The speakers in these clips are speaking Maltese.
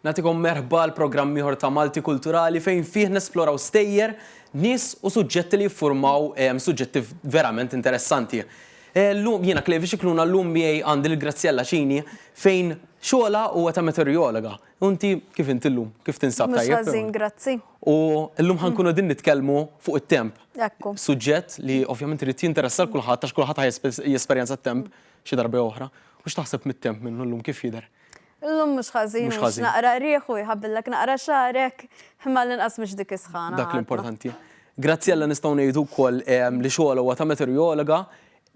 Nagħtikom merħba għal programm ieħor ta' Malti Kulturali fejn fih nesploraw stejjer, nies u suġġetti li jiffurmaw suġġetti verament interessanti. Llum jiena Klevi Xikluna llum miegħi għandi lil Graziella Cini fejn xogħolha huwa ta' meteorologa. U inti kif inti llum? Kif tinsab tajjeb? Mhux ħażin, grazzi. U llum ħankunu qegħdin nitkellmu fuq it-temp. Ekku. Suġġett li ovvjament irid jinteressa l kulħadd għax kulħadd jesperjenza t-temp xi darba jew oħra. U x'taħseb mit-temp minnu llum kif jidher? Illum mhux ħażin, Mhux mhux ħażin. naqra qrieħ u jħabbilek naqra xagħrek, imma l-inqas mhux dik is-sħana. Dak għadna. l-importanti. Graziella nistgħu ngħidu wkoll ehm, li xogħolha huwa ta' meteorologa,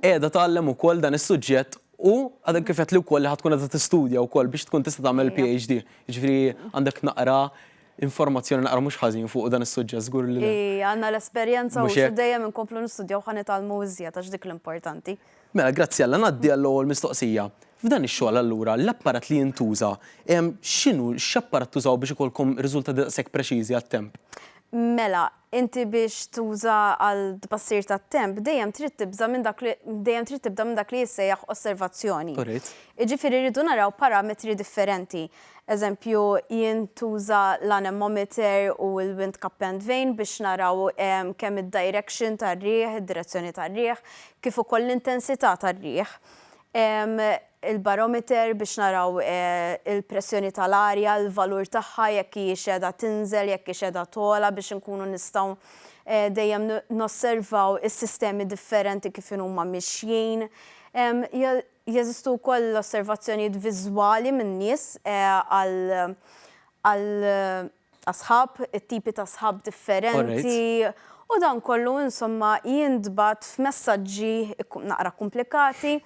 qiegħda tgħallem ukoll dan is-suġġett u għadha kif qed li wkoll li ħad tkun qed tistudja wkoll biex tkun tista' tagħmel Ejja. PhD. Jiġifieri għandek naqra informazzjoni naqra mhux ħażin fuq dan is-suġġett żgur li le. I għandna l-esperjenza u Mhux hekk? xi dejjem inkomplu nistudjaw ħa nitgħallmu iżjed għax dik l-importanti. Mela, Graziella, ngħaddi għall-ewwel mistoqsija. F'dan ix-xogħol allura l-apparat li jintuża, x'inhu, x'apparat tużaw biex ikollkom riżultati daqshekk preċiżi għat-temp? Mela, inti biex tuża għal tbassir tat-temp dejjem trid tibża' minn dak li, dejjem trid tibda minn dak li jissejjaħ osservazzjoni. Jiġifieri rridu naraw parametri differenti. Eżempju, jien tuża l-anemometer u l-wind cuppend vane biex naraw kemm id-direction tar-riħ, id-direzzjoni tar-riħ, kif ukoll l-intensità tar-riħ. Il-barometer biex naraw il-pressjoni tal-arja, il-valur tagħha, jekk hijiex qiegħda tinżel, jekk hix qiegħda togħla biex inkunu nistgħu dejjem nosservaw is-sistemi differenti kif inhuma mixjin. Jeżistu wkoll l-osservazzjonijiet viżwali minn nies għal għal asħab, it-tipi ta' sħab differenti, u dan kollu insomma jintbagħat f'messaġġi naqra kkumplikati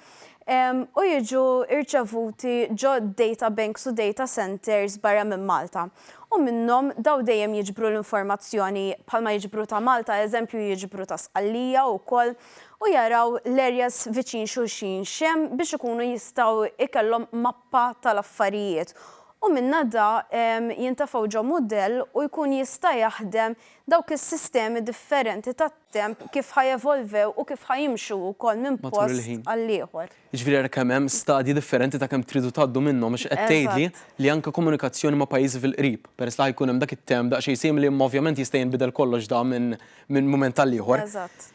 u jiġu rċevuti ġo data banks u data centres barra minn Malta. U minnhom dawn dejjem jiġbru l-informazzjoni bħalma jiġbru ta' Malta, eżempju jiġbru ta' Sqallija wkoll, u jaraw l-areas viċin xulxin x'hemm biex ikunu jistgħu jkellhom mappa tal-affarijiet u minnha da jintefgħu ġo mudell u jkun jista' jaħdem dawk is-sistemi differenti tat-temp kif ħa jevolvew u kif ħa jimxu wkoll minn post għall-ieħor. Jiġifieri ara kemm hemm stadji differenti ta' kemm tridu tgħaddu minnhom għax qed tgħidli li anke komunikazzjoni ma' pajjiżi fil-qrib, peress li ħa jkun hemm dak it-temp daqsxejn simili imma ovvjament jista' jinbidel kollox dan minn minn mument għall-ieħor.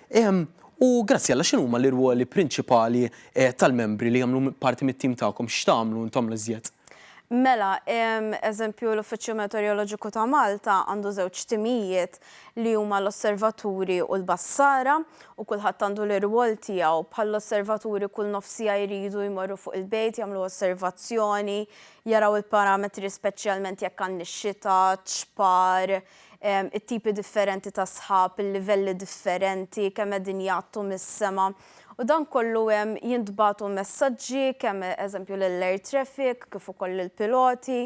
Ehm, u Graziella x'inhuma l-irwoli prinċipali tal-membri li jagħmlu parti mit-tim tagħkom? X'tagħmlu intom l-iżjed? Mela, ehm, eżempju l-Uffiċċju Meteoroloġiku ta' Malta għandu żewġ timijiet, li huma l-osservaturi u l-bassara, u kulħadd għandu l-irwol tiegħu. Bħall-osservaturi kull nofs siegħa jridu jmorru fuq il-bejt, jagħmlu osservazzjoni, jaraw il-parametri speċjalment jekk għandniex xita, ċpar, it-tipi differenti ta' sħab, il-livelli differenti, kemm qegħdin jgħattu mis-sema. U dan kollu hemm jintbagħtu messaġġi kemm eżempju lill-air traffic kif ukoll lill-piloti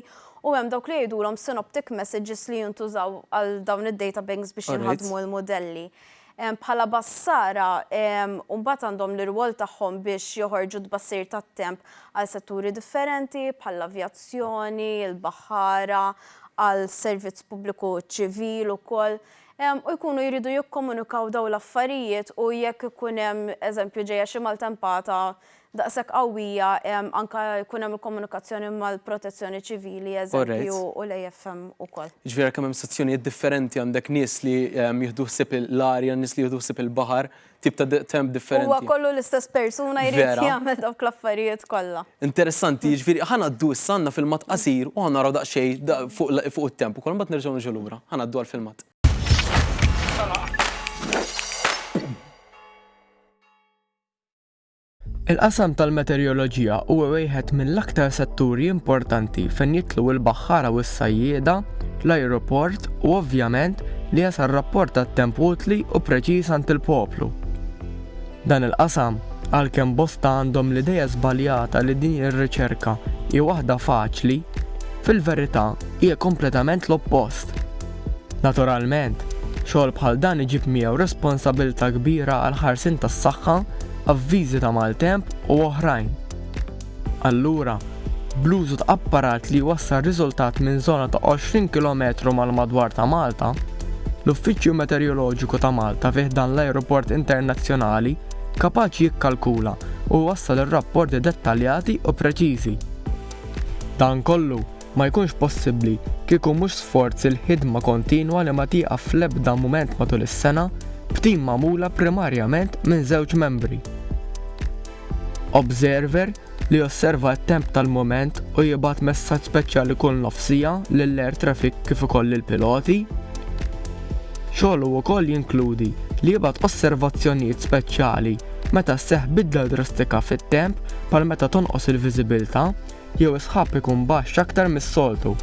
u hemm dawk li jgħidulhom synoptic messages li jintużaw għal dawn id-data banks biex jinħadmu l-mudelli. Bħala bassara mbagħad għandhom l-irwol tagħhom biex joħorġu tbassir tat-temp għal setturi differenti bħall-avjazzjoni, il-baħħara, għal servizz pubbliku ċivil ukoll. u jkunu jridu jikkomunikaw dawn l-affarijiet u jekk ikun hemm eżempju ġejja xi maltempata daqshekk qawwija anke jkun hemm il-komunikazzjoni mal-Protezzjoni Ċivili eżempju u l-AFM ukoll. Jiġifieri għalkemm hemm sezzjonijiet differenti għandek nies li jieħdu ħsieb l-arja, nies li jieħdu ħsieb il-baħar, tip ta' temp differenti. Huwa kollu l-istess persuna jrid jagħmel dawk l-affarijiet kollha. Interessanti, jiġifieri ħanaddu issa għandna filmat qasir u ħanaraw daqsxejn fuq it-temp ukoll mbagħad nerġgħu niġu lura. Ħanaddu għall-filmat. Il-qasam tal-meteoroloġija huwa wieħed mill-aktar setturi importanti fejn jidħlu l-baħħara u s-sajjieda, l-ajruport u ovvjament li jasal rapport tat-temp utli u preċiż għand il-poplu. Dan il-qasam, għalkemm bosta għandhom l-idea żbaljata li din ir-riċerka hi waħda faċli, fil-verità hija kompletament l-oppost. Naturalment, xogħol bħal dan iġib miegħu responsabilità kbira għall-ħarsien tas-saħħa, avviżi ta' maltemp u oħrajn. Allura, bl-użu ta' apparat li jwassal riżultat minn żona ta' 20 kilometru mal-madwar ta' Malta, l-Uffiċċju Meteoroloġiku ta' Malta fi ħdan l-Ajruport Internazzjonali kapaċi jikkalkula u jwassal ir-rapporti dettaljati u preċiżi. Dan kollu ma jkunx possibbli kieku mhux sforz il-ħidma kontinwa li ma tieqaf fl-ebda mument matul is-sena b'tim magħmula primarjament minn żewġ membri, observer li josserva t-temp tal-mument u jibgħat messaġġ speċjali kull nofs siegħa lill-air traffic kif ukoll lill-piloti. Xogħlu wkoll jinkludi li jibgħat osservazzjonijiet speċjali meta sseħħ bidla drastika fit-temp bħal meta tonqos il-viżibilità jew is-sħab ikun baxx aktar mis-soltu.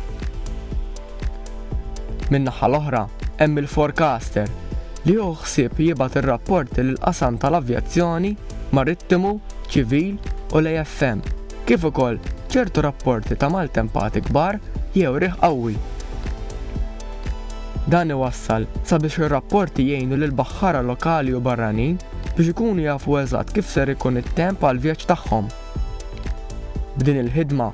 Min-naħa l-oħra, hemm il-forecaster, li hu ħsieb jibgħat ir-rapporti lill-qasam tal-avjazzjoni, marittimu, ċivil u l-AFM, kif ukoll ċertu rapporti ta' maltempati kbar jew riħ qawwi. Dan iwassal sabiex ir-rapporti jgħinu lill-baħħara lokali u barranin biex ikunu jafu eżatt kif ser ikun it-temp għall-vjaġġ tagħhom. B'din il-ħidma,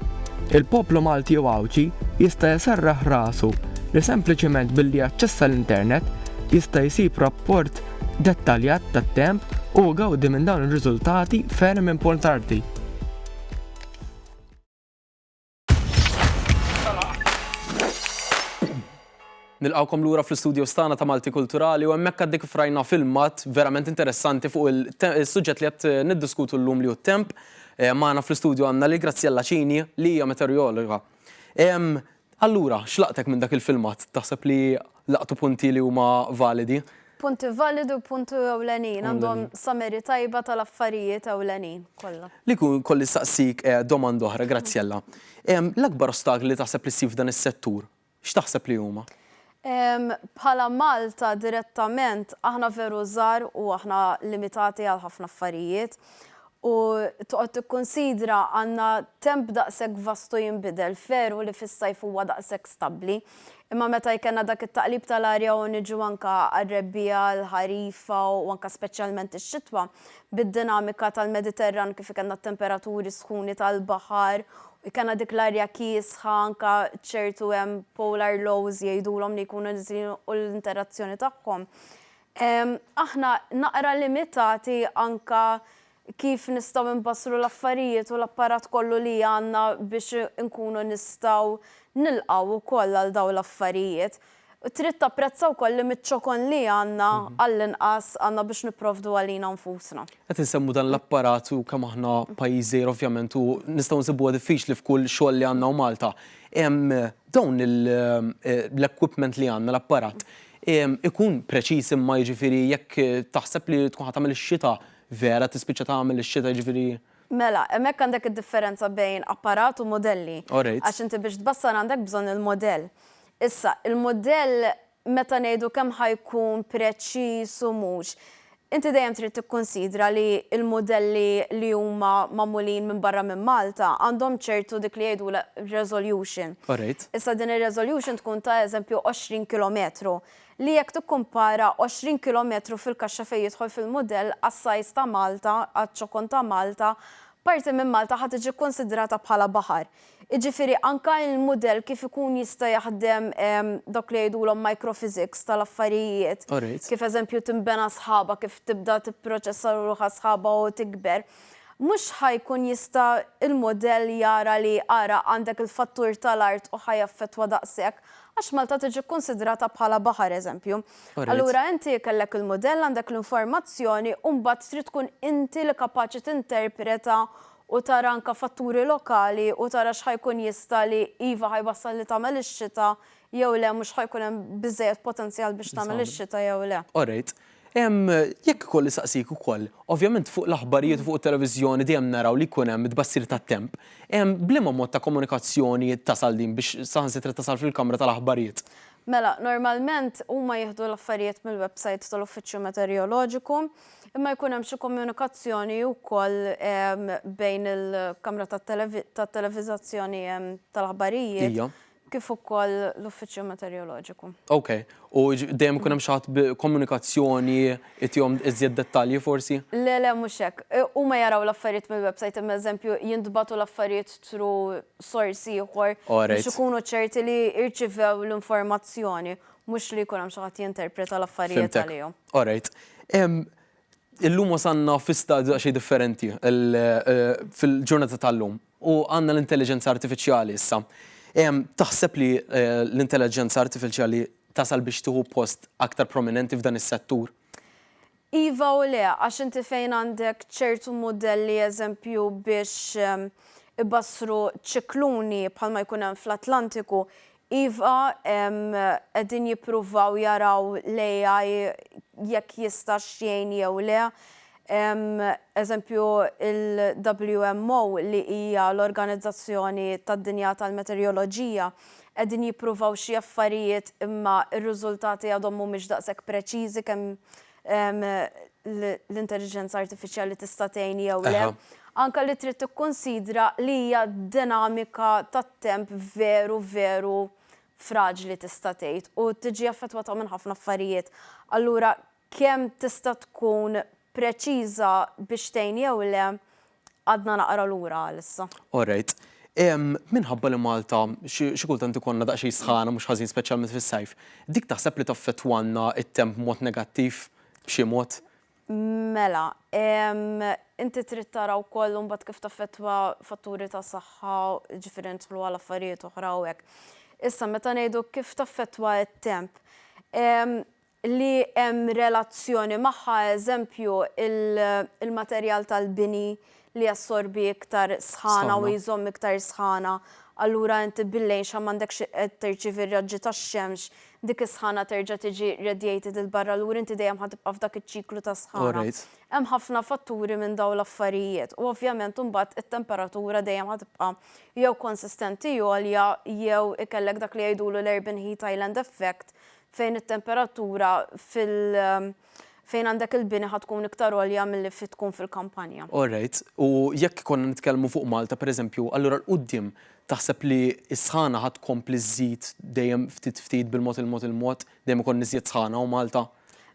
il-poplu Malti u Għawdxi jista' jserraħ rasu li sempliċement billi jaċċessa l-internet jista' jsib rapport dettaljat tat-temp u jgawdi minn dawn ir-riżultati ferm importanti. Nilqawkom lura fl-istudio stana ta' Malti Kulturali u hemmhekk għaddik frajna filmat verament interessanti fuq il-suġġett li qed eh, niddiskutu llum li hu temp. Eh, Magħna fl-istudio għandna li Graziella Cini li hija meteorologa. Allura, xlaqtek minn dak il-filmat? Taħseb li Laqtu punti li huma validi. Punti validi u punti ewlenin, għandhom summary tajba tal-affarijiet ewlenin kollha. Li jkun kolli nsaqsik eh, domanda oħra, Grazzjella. Ehm, l-akbar ostakli li taħseb li ssib f'dan is-settur, x'taħseb li huma? Ehm, bħala Malta direttament aħna veru żgħar u aħna limitati għal ħafna affarijiet u toqgħod tikkunsidra għandna temp daqshekk vastu jinbidel, veru li fis-sajf huwa daqshekk stabbli, Imma meta jkellna dak it-taqlib tal-arja u niġu anke għar-rebbiegħa, l-ħarifa u anke speċjalment ix-xitwa, bid-dinamika tal-Mediterran kif ikellna t-temperaturi sħuni tal-baħar, ikellna dik l-arja kiesħa anke ċertu hemm polar lows jgħidulhom li jkunu niżlin u l-interazzjoni tagħhom, aħna naqra limitati anke kif nistgħu inbassru l-affarijiet u l-apparat kollu li għandna biex inkunu nistgħu nilqgħu wkoll għal dawn l-affarijiet. Trid tapprezza wkoll li miċ-ċokon li għandna għall-inqas għandna biex nipprovdu għalina nfusna. Qed insemmu dan l-apparat u kemm aħna pajjiż żgħir ovvjament u nistgħu nsibuha diffiċli f'kull xogħol li għandna u Malta. Dawn l-equipment li għandna, l-apparat, ikun preċiż imma jiġifieri jekk taħseb li tkun ħa tagħmel ix-xita, Vera tispiċċa tagħmel ix-xita jiġifieri. Mela, hemmhekk għandek id-differenza bejn apparat u mudelli. Orejt. Għax inti biex tbassar għandek bżonn il-mudell. Issa, il-mudell meta ngħidu kemm ħa jkun preċiż u mhux, inti dejjem trid tikkunsidra li l-mudelli li huma magħmulin minn barra minn Malta għandhom ċertu dik li jgħidulha resolution. Orejt. Issa din ir-resolution tkun ta' eżempju 20 kilometru. li jekk tikkumpara 20 kilometru fil-kaxxa fejn jidħol fil-mudell għas-sajs ta' Malta, għaċ-ċokon ta' Malta, parti minn Malta ħa tiġi kkunsidrata bħala baħar. Jiġifieri anke il-mudell kif ikun jista' jaħdem dawk li jgħidulhom microphysics tal-affarijiet, kif eżempju tinbena sħaba, kif tibda tipproċessa ruħha sħaba u tikber, mhux ħa jkun jista' l-mudell jara li ara għandek il-fattur tal-art u ħa jaffettwa daqshekk, Għax Malta tiġi kkunsidrata bħala baħar, eżempju. Allura inti kellek il-mudell, għandek l-informazzjoni u mbagħad trid tkun inti li kapaċi tinterpreta u tara anke fatturi lokali u tara x'ħa jkun jista' li iva ħa jwassal li tagħmel ix-xita jew le mhux ħa jkun hemm biżżejjed potenzjal biex tagħmel ix-xita jew le. Orejt. Ehm, jekk ikolli saqsik ukoll, ovvjament fuq l-aħbarijiet u fuq it-televiżjoni dejjem naraw li jkun hemm tbassir tat-temp. Ehm, b'liema mod ta' komunikazzjoni tasal din biex saħansitra tasal fil-kamra tal-aħbarijiet? Mela, normalment huma jieħdu l-affarijiet mill-websajt tal-Uffiċċju Meteorjoloġiku, imma jkun hemm xi komunikazzjoni wkoll ehm, bejn il-kamra tat-televiżazzjoni ehm, tal-aħbarijiet. Ija. kif ukoll l-Uffiċċju Meteoroloġiku. Ok, u dejjem ikun hemm xi ħadd b'komunikazzjoni itihom iżjed dettalji forsi? Le le mhux hekk. Huma jaraw l-affarijiet mill-website imma eżempju jintbagħtu l-affarijiet through source ieħor biex ikunu ċerti li rċivew l-informazzjoni, mhux li jkun hemm xi ħadd jinterpreta l-affarijiet għalihom. Fhimtek. Alright. Illum wasalna fi stadju daqsxejn differenti fil-ġurnata tal-lum u għandna l-intelliġenza artifiċjali issa. Taħseb li l-intelliġenza artifiċjali tasal biex tieħu post aktar prominenti f'dan is-settur? Iva u le, għax inti fejn għandek ċertu mudelli eżempju biex ibassru ċikluni bħalma jkun hemm fl-Atlantiku, Iva, qegħdin jippruvaw jaraw l-AI jekk jistax jgħin jew le. Eżempju, il-WMO li hija l-Organizzazzjoni tad-Dinja tal-Meteoroloġija, qegħdin jippruvaw xi affarijiet imma r-riżultati għadhom mhumiex daqshekk preċiżi kemm l-intelliġenza artifiċjali tista' tgħin jew le, anke li trid tikkunsidra li hija dinamika tat-temp veru veru fraġli tista' tgħid u tiġi affettwata minn ħafna affarijiet. Allura kemm tista' tkun preċiża biex tgħin jew le, Għadna naqra lura għalissa. All right. Minħabba li Malta xi kultant ikollna daqsxejn sħana mhux ħażin speċjalment fis-sajf, dik taħseb li taffettwanna t-temp b'mod negattiv b'xi mod? Mela, inti trid tara wkoll imbagħad kif taffettwa fatturi ta' saħħa, ġifieri nidħlu għal affarijiet oħra u hekk. Issa meta ngħidu kif taffettwa t-temp, li hemm relazzjoni magħha, eżempju, il-materjal tal-bini li jassorbi iktar sħana u jżomm iktar sħana, allura inti bil-lejxa m'għandekx qed tirċievi r-raġġi tax-xemx, dik is-sħana terġa' tiġi radiated 'il barra, allura inti dejjem ħa tibqa' f'dak iċ-ċiklu ta' sħana. Hemm ħafna fatturi minn dawn l-affarijiet u ovvjament imbagħad it-temperatura dejjem ħa tibqa' jew konsistenti għolja jew ikellek dak li jgħidulu l-urban heat island effect fejn it-temperatura fil fejn għandek il-bini ħa tkun iktar għolja milli fi tkun fil-kampanja. All right, u jekk konna nitkellmu fuq Malta pereżempju, allura 'l quddiem taħseb li s-sħana ħa tkompli żżid dejjem ftit ftit bil-mod il-mod il-mod, dejjem ikollna iżjed sħana hawn Malta?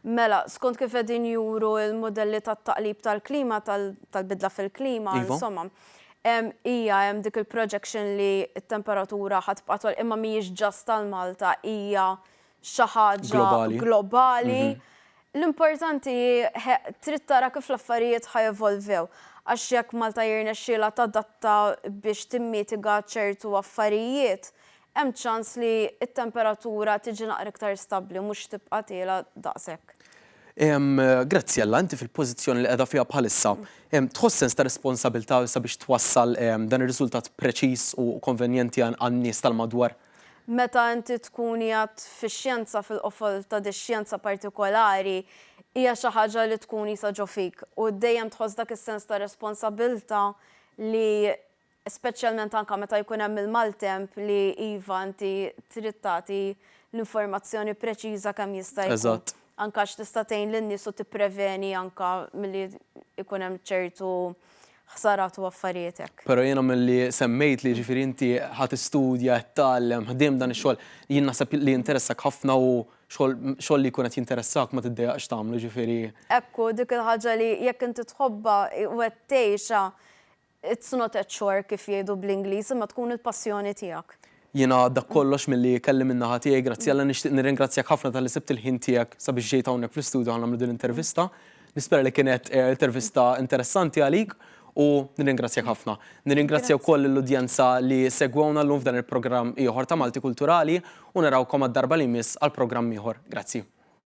Mela, skont kif qegħdin juru l-mudelli tat-taqlib tal-klima, tal-bidla fil-klima, insomma. Iva. Hemm, hija hemm dik il-projection li t-temperatura ħa tibqa' togħla imma mhijiex just għal Malta, hija xi ħaġa globali. L-importanti hi trid tara kif l-affarijiet ħa jevolvew. Għax jekk Malta jirnexxielha tadatta biex timmitiga ċertu affarijiet, hemm ċans li t-temperatura tiġi naqra iktar stabbli, mhux tibqa' tiela' daqshekk. Graziella, inti fil-pożizzjoni li qiegħda fiha bħalissa, tħoss sens ta' responsabilità sabiex twassal dan ir-riżultat preċiż u konvenjenti għan-nies tal-madwar? Meta inti tkun qiegħed fix-xjenza, fil-qofol ta' dix-xjenza partikolari, hija xi ħaġa li tkun qisha ġo fik u dejjem tħoss dak is-sens ta' responsabilità li speċjalment anke meta jkun hemm il-maltemp li iva inti trid tagħti l-informazzjoni preċiża kemm jista' jkun. Eżatt. Anke għax tista' tgħin lin-nies u tippreveni anke milli jkun hemm ċertu ħsarat u affarijiet hekk. Però jiena milli semmejtli jiġifieri inti ħa tistudja, qed tgħallem, ħdiem dan ix-xogħol, jien naħseb li jinteressakk ħafna u xogħol xogħol li jkun qed jinteressakk ma tiddejjaqx tagħmlu jiġifieri. Hekk hu, dik il-ħaġa li jekk inti tħobbha u qed tgħixha It's not a chore kif jgħidu bl-Ingliż imma tkun il-passjoni tiegħek. Jiena dak kollox milli kelli min-naħa tiegħi, grazzi Alla nixtieq nirringrazzjak ħafna talli sibt il-ħin tiegħek sabiex ġejt hawnhekk fl-istudju ħa nagħmlu din l-intervista. Nispera li kienet intervista interessanti għalik u nirringrazzjak ħafna. Nirringrazzja wkoll lill-udjenza li segwewna llum f'dan il-programm ieħor ta' Malti Kulturali u narawkom għad-darba li jmiss għal programm ieħor. Grazzi.